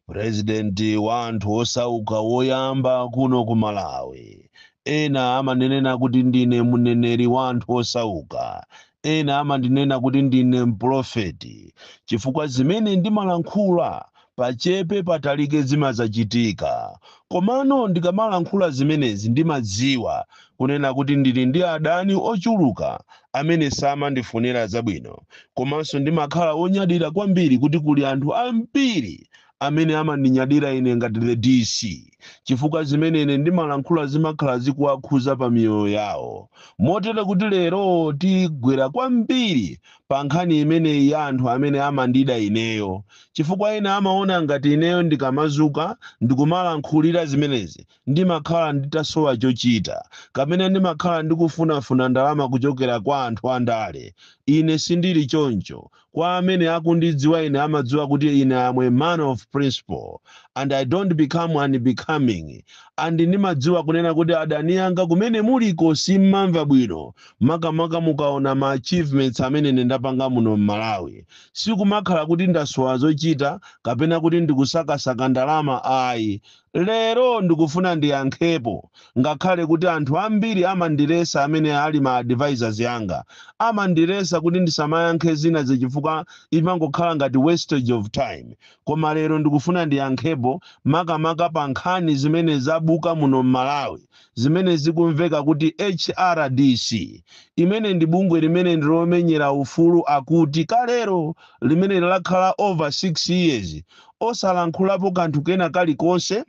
purezidenti wa anthu osauka woyamba kuno ku malawi ena amandinena kuti ndine mneneri wa anthu osauka ena amandinena kuti ndine mpulofeti chifukwa zimene ndimalankhula pachepe patalike zimazachitika komano ndikamalankhula zimenezi ndimadziwa kunena kuti ndili ndi adani ochuluka amene samandifunira zabwino. Komanso ndimakhala wonyadira kwambiri kuti kuli anthu ambiri amene amandinyadira ine ngati the DC chifukwa zimene ine ndimalankhula zimakhala zikuwakhuza pa miyoyo yawo. Motere kuti lero tigwera kwambiri pa nkhani imeneyi ya anthu amene amandida ineyo chifukwa ena amaona ngati ineyo ndikamazuka ndikumalankhulira zimenezi Ndimakhala nditasowa chochita, kapena ndimakhala ndikufunafuna ndalama kuchokera kwa anthu andale. Ine sindiri choncho. Kwa amene akundidziwa ine amadziwa kuti ine am a man of principle, and I don't become unbecoming, and ndimadziwa kunena kuti adani anga kumene muliko simmamva bwino, makamaka mukaona ma achievements amene ine ndapanga muno mMalawi. Sikumakhala kuti ndasowa zochita, kapena kuti ndikusakasaka ndalama ayi. Lero ndikufuna ndiyankhepo ngakhale kuti anthu ambiri amandilesa amene ali ma advisors anga. Amandilesa kuti ndisamayankhe zinazi chifukwa imangokhala ngati wastage of time. Koma lero ndikufuna ndiyankhepo makamaka pa nkhani zimene zabuka muno m'Malawi zimene zikumveka kuti HRDC, imene ndi bungwe limene ndi lomenyera ufulu akuti kalero limene lakhala over 6 years osalankhulapo kanthu kena kalikonse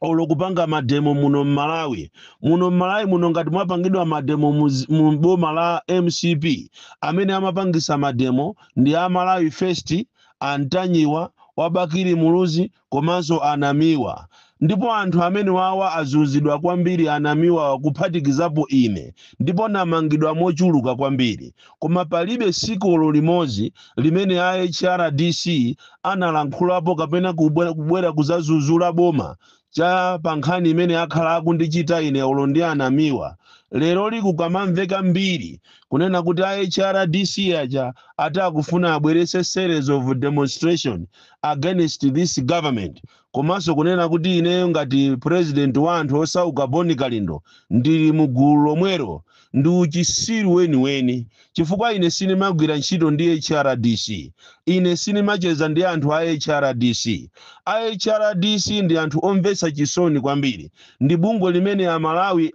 olo kupanga mademo muno mmalawi muno mmalawi muno ngati mwapangidwa mademo muzi- mu boma la mcp amene amapangisa mademo ndi amalawi first a Ntanyiwa wa Bakili Muluzi komanso a Namiwa ndipo anthu amenewawa azunzidwa kwambiri a Namiwawa kuphatikizapo ine ndipo namangidwa mochuluka kwambiri koma palibe siku olo limodzi limene a HRDC analankhulapo kapena kubwera kuzazuzula boma cha pa nkhani imene akhala akundichita ine olo ndi a Namiwa. Leroli kukamamveka mbiri kunena kuti a HRDC aja ati akufuna abweretse series of demonstration against this government komanso kunena kuti ineyo ngati president wa anthu osauka bon kalindo ndili mu gulu lomwelo ndi uchisiru weniweni chifukwa ine sinimagwira ntchito ndi hrdc ine sinimacheza ndi anthu a hrdc a hrdc ndi anthu omvetsa chisoni kwambiri ndi bungwe limene amalawi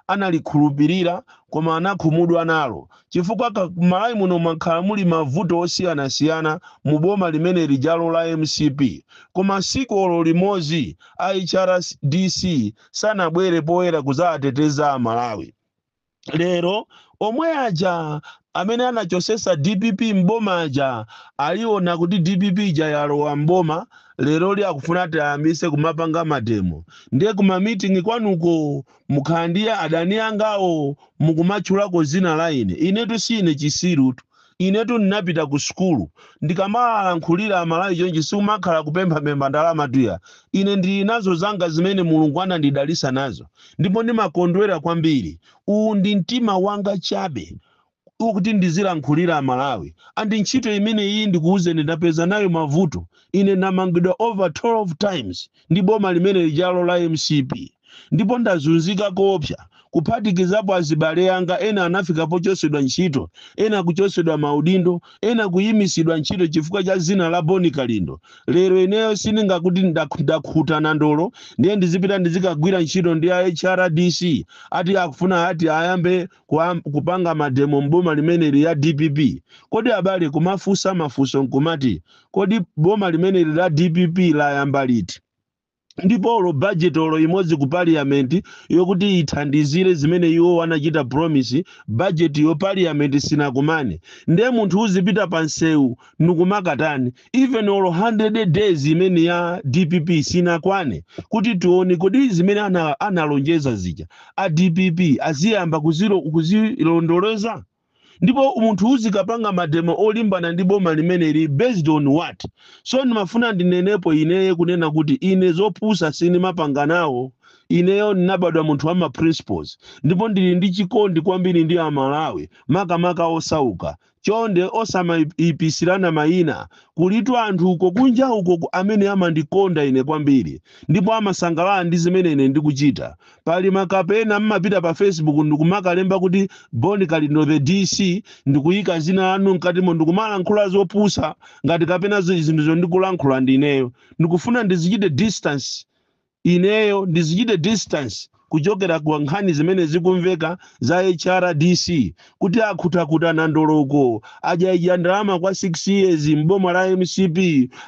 analikhulupirira koma anakhumudwa nalo chifukwa m'Malawi muno mwakhala muli mavuto osiyanasiyana mu boma limene lijalo la mcp koma siku olo limozi a HRDC sanabwere poyera kuzaateteza a Malawi. Lero omwe aja amene anachosesa dpp m'boma aja aliona kuti dpp ija yalowa m'boma leroli akufuna ati ayambise kumapanga mademo ndiye kuma meeting kwanuko Mukhala ndi ya adani angawo mukumatchulako dzina la ine. Inetu siine chisirutu. Inetu ndinapita ku sukulu. Ndikamawalankhulira Amalawi chonchi sikumakhala kupemphapempha ndalamatu ya. Ine ndili nazo zanga zimene Mulungu anandidalitsa nazo ndipo ndimakondwera kwambiri. Uwu ndi mtima wanga chabe kuti ndizilankhulira amalawi and ntchito imeneyiyi ndikuuzeni ndapeza nayo mavuto ine ndamangidwa over 12 times ndi boma limene lijalo la mcp ndipo ndazunzika koopsa kuphatikizapo azibale anga ena anafika pochosedwa ntchito ena kuchosedwa maudindo ena kuyimisidwa ntchito chifukwa cha zina la boni kalindo lero ineyo sindingakuti ndakhuta nandolo ndiye ndizipita ndizikagwira ntchito ndi a hrdc ati akufuna ati ayambe kupanga mademo m'boma limeneli ya dpp kodi abale kumafunsa mafunso nkumati kodi boma limeneli la dpp layamba liti ndipo olo budget olo imodzi ku parliament yokuti ithandizire zimene iwo anachita promise budget yo parliament sinakumane ndiye munthu uzipita pa msewu nkumakatani even olo 100 days imene ya dpp sinakwane kuti tione kodi zimene analonjeza zija a dpp aziyamba kuzilondoloza ndipo munthu uzikapanga mademo olimbana ndi boma limeneli based on what so ndimafuna ndinenepo ineye kunena kuti ine zopusa sindimapanga nawo ineyo ndinabadwa munthu wa ma principles ndipo ndili ndi chikondi kwambiri ndi amalawi makamaka osauka Chonde osamaipisirana mayina. Kulitu anthu uko kunja uko amene amandikonda ine kwambiri, ndipo amasangalala ndi zimene ine ndikuchita. Pali makape ena mmapita pa Facebook ndi kumakalemba kuti Bon Kalindo the DC, ndi kuyika zina lanu mkatimo ndi kumalankhula zopusa ngati kapena zinthuzo ndikulankhula ndi ineyo. Ndikufuna ndizichite distance Ineyo ndizichite distance kuchokera kwa nkhani zimene zikumveka za HRDC kuti akhutakhuta nandolo uko adyaidya ndalama kwa 6 years m'boma la mcp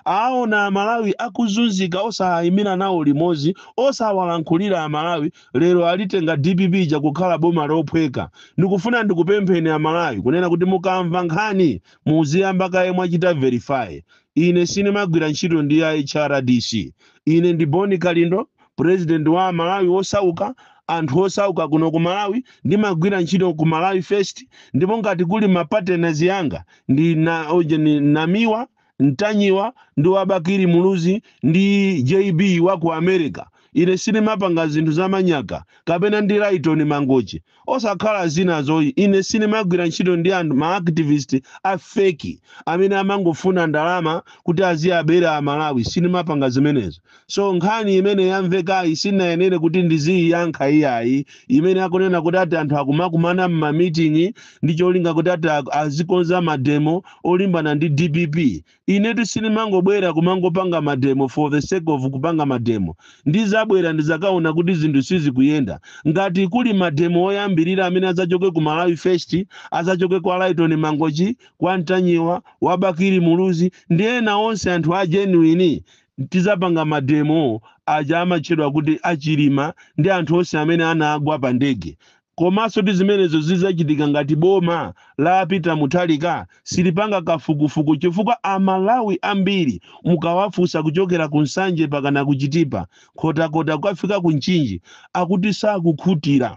aawona amalawi akuzunzika osaayimira nawo limodzi osawalankhulira amalawi lero alitenga dpp ija kukhala boma lophweka ndikufuna ndikupempheni amalawi kunena kuti mukamva nkhani muziyamba kaye mwachita verify Ine sinimagwira ntchito ndi a HRDC. Ine ndi Boni Kalindo, President wa Amalawi wosauka, anthu osauka kuno ku Malawi. Ndimagwira ntchito ku Malawi First ndipo ngati kuli ma partners anga ndi Namiwa, Ntanyiwa ndi wa Bakili Muluzi ndi JB wa ku America. Ine sinimapanga zinthu za manyaka, kapena ndi Lytton Mangochi, osakhala zinazo, ine sinimagwira ntchito ndi anthu, ma activist a fake amene amangofuna ndalama kuti aziabera a Malawi, sinimapanga zimenezo. So nkhani imene yamvekayi sinayenere kuti ndiziiyankha iyayi, imene akunena kuti ati anthu akumakumana m'ma meeting ndi cholinga kuti ati azikonza mademo olimbana ndi dpp, inetu sinimangobwera kumangopanga mademo for the sake of kupanga mademo ndizabwera ndizakaona kuti zinthu sizikuyenda ngati kuli mademo oyambirira amene azachoke ku malawi first azachoke kwa laiton mangochi kwa ntanyiwa wa bakiri muluzi ndi ena onse anthu a genuine tizapanga mademo aja amatchedwa kuti achilima ndi anthu onse amene anagwa pa ndege Komaso kuti zimenezo zizachitika ngati boma la Peter Mutharika silipanga kafukufuku chifukwa a Malawi ambiri mukawafusa kuchokera ku Nsanje pakana ku Chitipa, Nkhotakota kukafika ku Nchinji akuti sakukhutira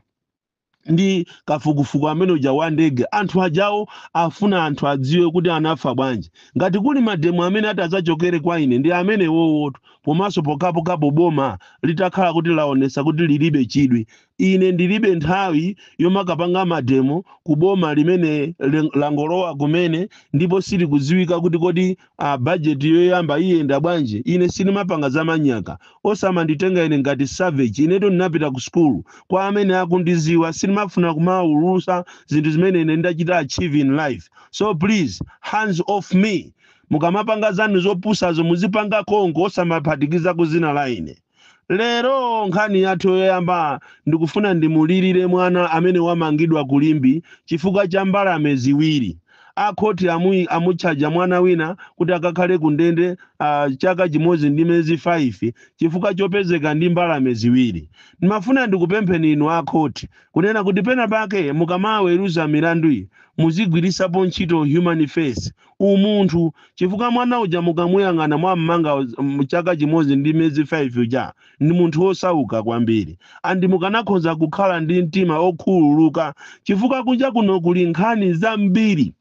ndi kafukufuku amene uja wa ndege. Anthu ajawo afuna anthu adziwe kuti anafa bwanji. Ngati kuli mademo amene ati azachokere kwa ine ndi amenewowo komaso pokhapokhapo boma litakhala kuti laonesa kuti lilibe chidwi Ine ndilibe nthawi yomakapanga mademo ku boma limene langolowa kumene ndipo sizikudziwika kuti kodi a budget yoyamba iyenda bwanji. Ine sinimapanga za manyaka. Osamanditenga ine ngati savage. Inetu ndinapita ku school. Kwa amene akundiziwa sinimafuna kumaulutsa zinthu zimene ine ndachita achieve in life. So please hands off me. Mukamapanga zanu zopusazo muzipanga konko osamaphatikiza dzina la ine. lero nkhani yathu yoyamba ndikufuna ndimulirire mwana amene wamangidwa ku Limbe chifukwa cha mbalame ziwiri akhoti amutchaja mwana wina kuti akakhale ku ndende ah, chaka chimodzi ndi miyezi 5 chifukwa chopezeka ndi mbalame ziwiri ndimafuna ndikupempheni inu akhoti kunena kuti pena pake mukamaweruza milanduyi muzigwiritsapo ntchito human face umunthu chifukwa mwana uja mukamuyang'ana mwammanga chaka chimodzi ndi miyezi 5 uja ndi munthu wosauka kwambiri andi mukanakhoza kukhala ndi mtima okhululuka chifukwa kunja kuno kuli nkhani zambiri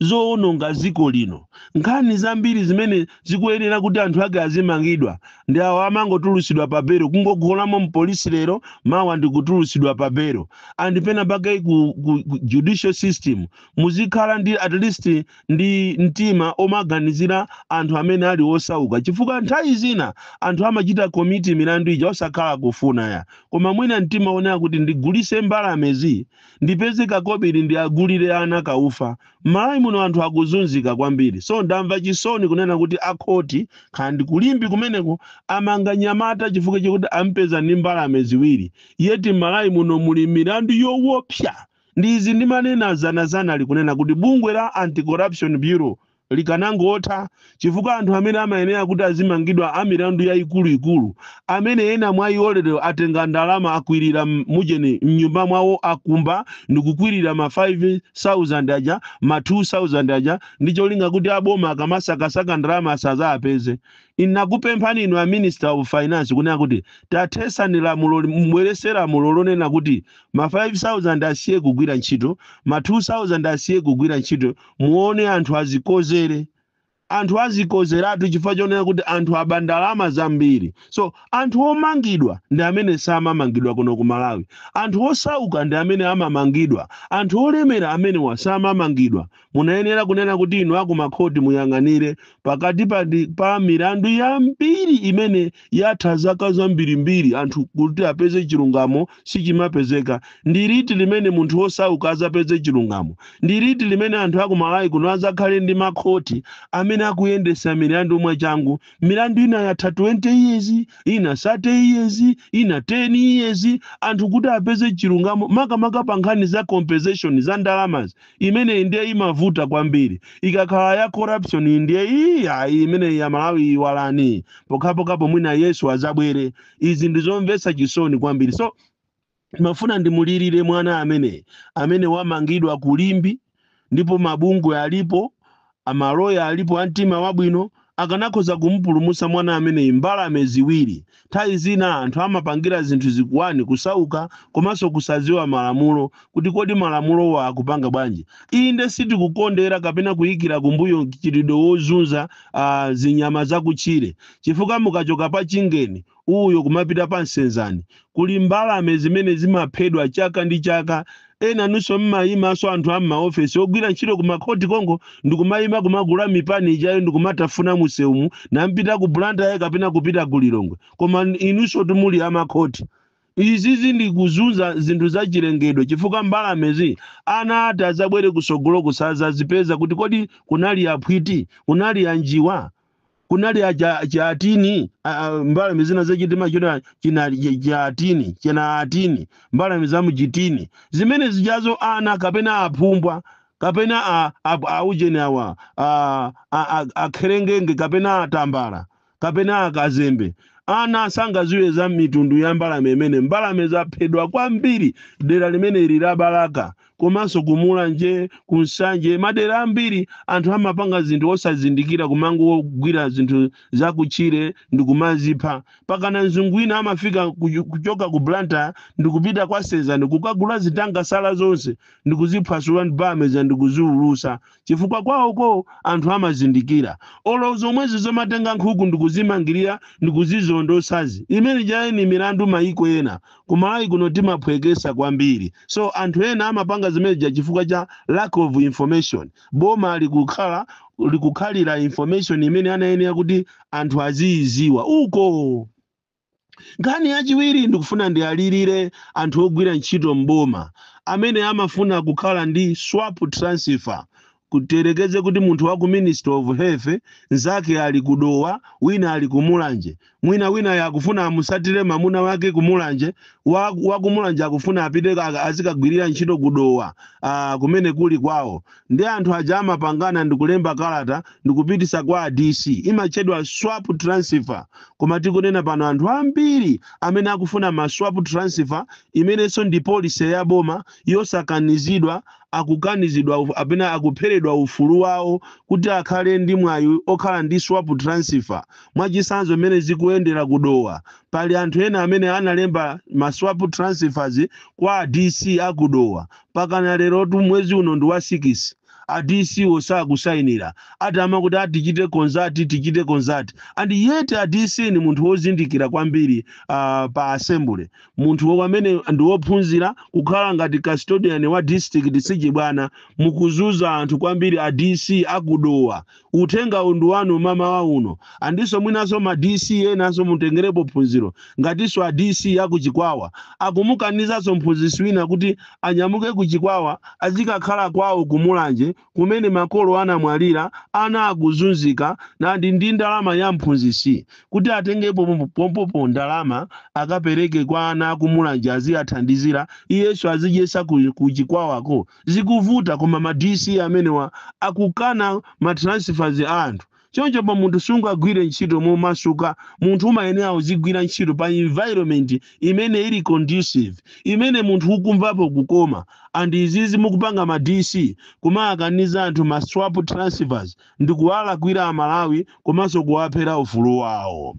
zowononga dziko lino nkhani zambiri zimene zikuyenera kuti anthu ake azimangidwa ndi awo amangotulutsidwa pa belo kungogonamo mpolisi lero mawa ndikutulutsidwa pa belo and pena pake ku judicial system muzikhala ndi at least ndi mtima omaganizira anthu amene ali osauka chifukwa nthawi zina anthu amachita komiti milandu ija osakhala kufuna ya koma mwina mtima onena kuti ndigulise mbalamezi ndipeze kakobiri ndi agulire ana kaufa m'malawi muno anthu akuzunzika kwambiri so ndamva chisoni kunena kuti akhoti khani ku Limbe kumeneko amanga mnyamata chifukwa chakuti ampeza ndi mbalame ziwiri yeti m'malawi muno muli milandu yowopsa Ndi izi ndimanena dzanadzanali kunena kuti bungwe la Anti-Corruption Bureau likanangotha chifukwa anthu amene amayenera kuti azimangidwa a milandu yayikulu ikulu amene ena mwa iwo lero atenga ndalama akwirira mujeni m'nyumba mwawo akumba ndikukwirira ma 5000 aja ma 2000 aja ndi cholinga kuti a boma akamasakasaka ndalama asazazipeze. Ndinakupemphani inu a Minister of Finance kunena kuti tathetsani lamuloli mubwerese lamulo lonena kuti ma 5000 asiye kugwira ntchito ma 2000 asiye kugwira ntchito muone anthu azikozere anthu azikozeratu chifukwa chonena kuti anthu aba ndalama zambiri so anthu omangidwa ndi amene samamangidwa kuno ku malawi anthu osauka ndi amene amamangidwa anthu olemera amenewa samamangidwa Munayenera kunena kuti inu a kumakhoti muyang'anire pakati pa milandu yambiri imene yatha zaka zambirimbiri anthu kuti apeze chilungamo sichimapezeka. Ndi liti limene munthu wosauka adzapeze chilungamo? Ndi liti limene anthu a ku Malawi kuno adzakhale ndi makhoti amene akuyendetsa milandu mwachangu? Milandu ina yatha 20 years, ina 30 years, ina 10 years, anthu kuti apeze chilungamo makamaka pa nkhani za compensation za ndalamazi. imeneyi ndiye imavuta kwambiri ikakhala ya corruption iyi ndiye iyi ayi imeneyi ya malawi iyiwalani pokhapokhapo mwina yesu azabwere izi ndizomvetsa chisoni kwambiri so ndimafuna ndimulirire mwana ameneyi amene wamangidwa ku Limbe ndipo mabungwe alipo A maloya alipo a mtima wabwino akanakhoza kumupulumutsa mwana ameneyu mbalame ziwiri. Nthawi zina anthu amapangira zinthu izi 1 kusauka komanso kusadziwa malamulo kuti kodi malamulowa akupanga bwanji. Inde sitikukondera kapena kuyikira kumbuyo mchitidwe wozunza zinyama zakutchire chifukwa mukachoka pa Chingeni uyo kumapita pa Senzani. Kuli mbalame zimene zimaphedwa chaka ndi chaka. Ena inunso mumayimanso anthu a m'maofesi ogwira ntchito ku makhoti konko ndikumayima kumagula mipani ijayo ndikumatafuna mumsewumu kumapita ku Blantyre kapena kupita ku Lilongwe. Koma inunsotu muli a makhoti. Izizi ndi kuzunza zinthu za chilengedwe chifukwa mbalamezi ana oti adzabwere kusogoloku sadzazipeza kuti kodi kunali aphwiti? Kunali anjiwa? kunali acha cha atini a- a- mbalame zina zachitima chona china cha- cha atini chena atini mbalame za mchitini zimene zijazo ana kapena aphumbwa kapena a- a- aujeni awa a- a- a- akherengenge kapena atambala kapena akazembe ana sangaziwe za mitundu ya mbalame imene mbalame zaphedwa kwambiri dera limene ili la balaka komanso ku mulanje ku nsanje madera ambiri anthu amapanga zinthu osazindikira kumangogwira zinthu zakutchire ndikumazipha pakana mzungu wina amafika kuchu- kuchoka ku Blantyre ndikupita kwa senzani kukagula zitangasala zonse ndikuziphwasula ndi pameza ndikuziulusa chifukwa kwawoko anthu amazindikira olo zomwezi zomatenga nkhuku ndikuzimangirira ndikuzizondosazi imene ijaye ni milandu maiko ena ku Malawi kuno timaphwekesa kwambiri so anthu ena amapanga zimene zija chifukwa cha lack of information boma likukhala likukhalira information imene anayenera kuti anthu aziyiziwa uko Nkhani yachiwiri ndikufuna ndialirire anthu ogwira ntchito m'boma amene amafuna kukhala ndi swap transfer tiyerekeze kuti munthu wa ku ministry of health nzake ali ku Dowa wina ali ku Mulanje mwina winayo akufuna amusatire mamuna wake ku Mulanje wa, wa ku Mulanje akufuna apite ka- azikagwirira ntchito ku Dowa ah, kumene kuli kwawo Nde anthu aja amapangana ndikulemba kalata ndikupitisa kwa a DC imatchedwa swap transfer koma tikunena pano anthu ambiri amene akufuna ma swap transfer imenenso ndi policy ya boma yosakanizidwa akukanizidwa apena akupheredwa ufulu wawo kuti akhale ndi mwayi okhala ndi swap transfer mwachisanzo mmene zikuendera ku Dowa pali anthu ena amene analemba ma swap transfers kwa a DC a ku Dowa pakana lero tu mwezi uno ndi wa 6 a DC osakusainira ati amakuti a tichite consult tichite consult and yet a DC ni munthu wozindikira kwambiri uh, pa assembly munthu amene ndi wophunzira kukhala ngati custodian wa district sichibwana mukuzuza anthu kwambiri a DC a ku Dowa uthengawu ndi wanu mamawa uno and so mwinanso ma dc enanso mutengerepo phunziro ngatinso a dc a ku chikwawa akumukanizanso mphunzisi wina kuti anyamuke ku chikwawa azikakhala kwawo ku mulanje kumene makolo anamwalira ana akuzunzika nandi ndi ndalama ya mphunzisi kuti atengepo pompo- pompopo ndalama akapereke kwa ana a ku mulanje aziyathandizira iyenso azidyesa ku, ku chikwawako zikuvuta koma ma dc amenewa akukana ma transfers a anthu chonchopo munthu sungagwire ntchito momasuka munthu umayenera uzigwira ntchito pa environment imene ili conducive imene munthu ukumvapo kukoma and izizi mukupanga ma dc kumawakaniza anthu ma swap transfers ndi kuwalakwira amalawi komanso kuwaphera ufulu wawo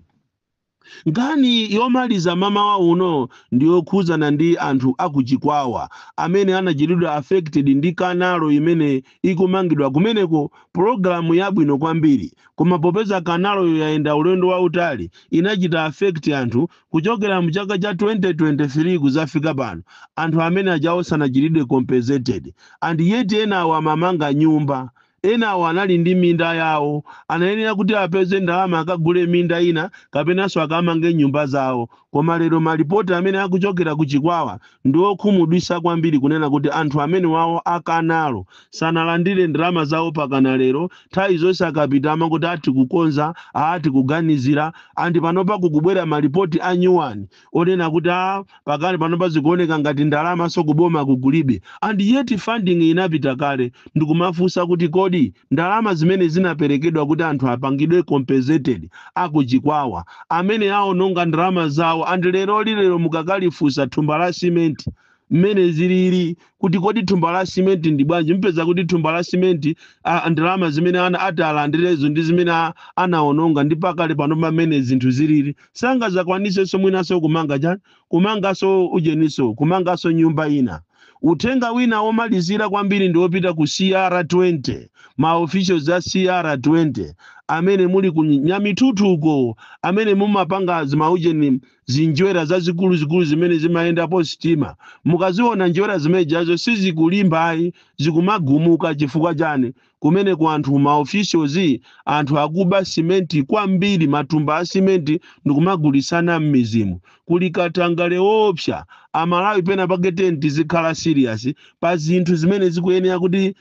Nkhani yomaliza mamawa uno ndi yokhudzana ndi anthu a ku Chikwawa amene anachitidwa affected ndi kanalo imene ikumangidwa kumeneko, pulogalamu yabwino kwambiri koma popeza kanaloyo yayenda ulendo wautali inachita affect anthu kuchokera mu chaka cha 2023 kudzafika pano anthu amene ajawo sanachitidwe compensated and yet enawo amamanga nyumba Enawo anali ndi minda yawo. Anayenera kuti apeze ndalama akagule minda ina kapenanso akamange nyumba zawo. Koma lero malipoti amene akuchokera ku Chikwawa ndi okhumudwitsa kwambiri kunena kuti anthu amenewawo a Kanalo sanalandire ndalama zawo pakana lero, nthawi zonse akapita amakuti aa tikukonza, aa tikuganizira and panopa kukubwera malipoti a nyuwani. onena kuti a pakali panopa zikuoneka ngati ndalamanso kuboma kukulibe and yet funding inapita kale ndikumafunsa kuti kodi ndalama zimene zinaperekedwa kuti anthu apangidwe compensated akuchikwawa amene aononga ndalama zawo and lero lilero mukakalifunsa thumba la simenti mmene zilili kuti kodi thumba la simenti ndi bwanji mpeza kuti thumba la simenti ah, ndalama zimene ana ati alandirezo ndi zimene a- anaononga ndi pakali panopa mmene zinthu zilili sangazakwanisenso mwinanso kumanga chani kumanganso ujeniso kumanganso nyumba ina uthenga wina womalizira kwambiri ndi wopita ku cr20 ma officials a cr20 amene muli ku nyamitutu uko amene mumapanga zimaujeni zinjwera zazikuluzikulu zimene zimayendapo sitima mukaziona njwera zimene zijazo sizikulimba ayi zikumagumuka chifukwa chani kumeneko anthu ma officials anthu akuba simenti kwambiri matumba a simenti ndikumagulisana m'midzimu kuli katangale woopsa amalawi pena pake tiyeni tizikhala serious pa zinthu zimene zikuyenera kuti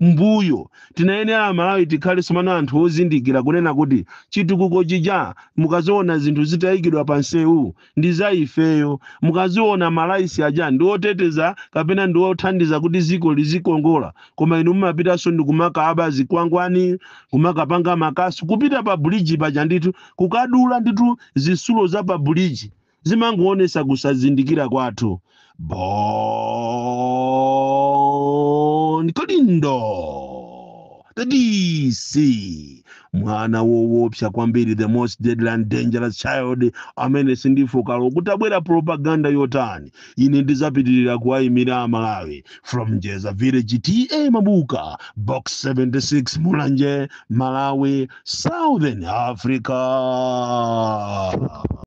mbuyo. Tinayenera amalawi tikhale tsopano anthu ozindikira kunena kuti chitukuko chija mukaziona zinthu zitayikidwa pa nseu ndi za ifeyo. Mukaziona ma lights aja ndi oteteza kapena ndi othandiza kuti dziko lizikongola koma inu mumapitanso ndikumakaba zikwangwani, kumakapanga makasu, kupita pa bridge paja ndithu kukadula ndithu zitsulo za pa bridge. zimangoonesa kusazindikira kwathu bon kalindo the dc mwana wowopsa kwambiri the most deadly and dangerous child amene sindifooka olo kutabwera propaganda yotani ine ndizapitirira kuwayimira amalawi from njeza village ta mabuka box 76 mulanje malawi southern africa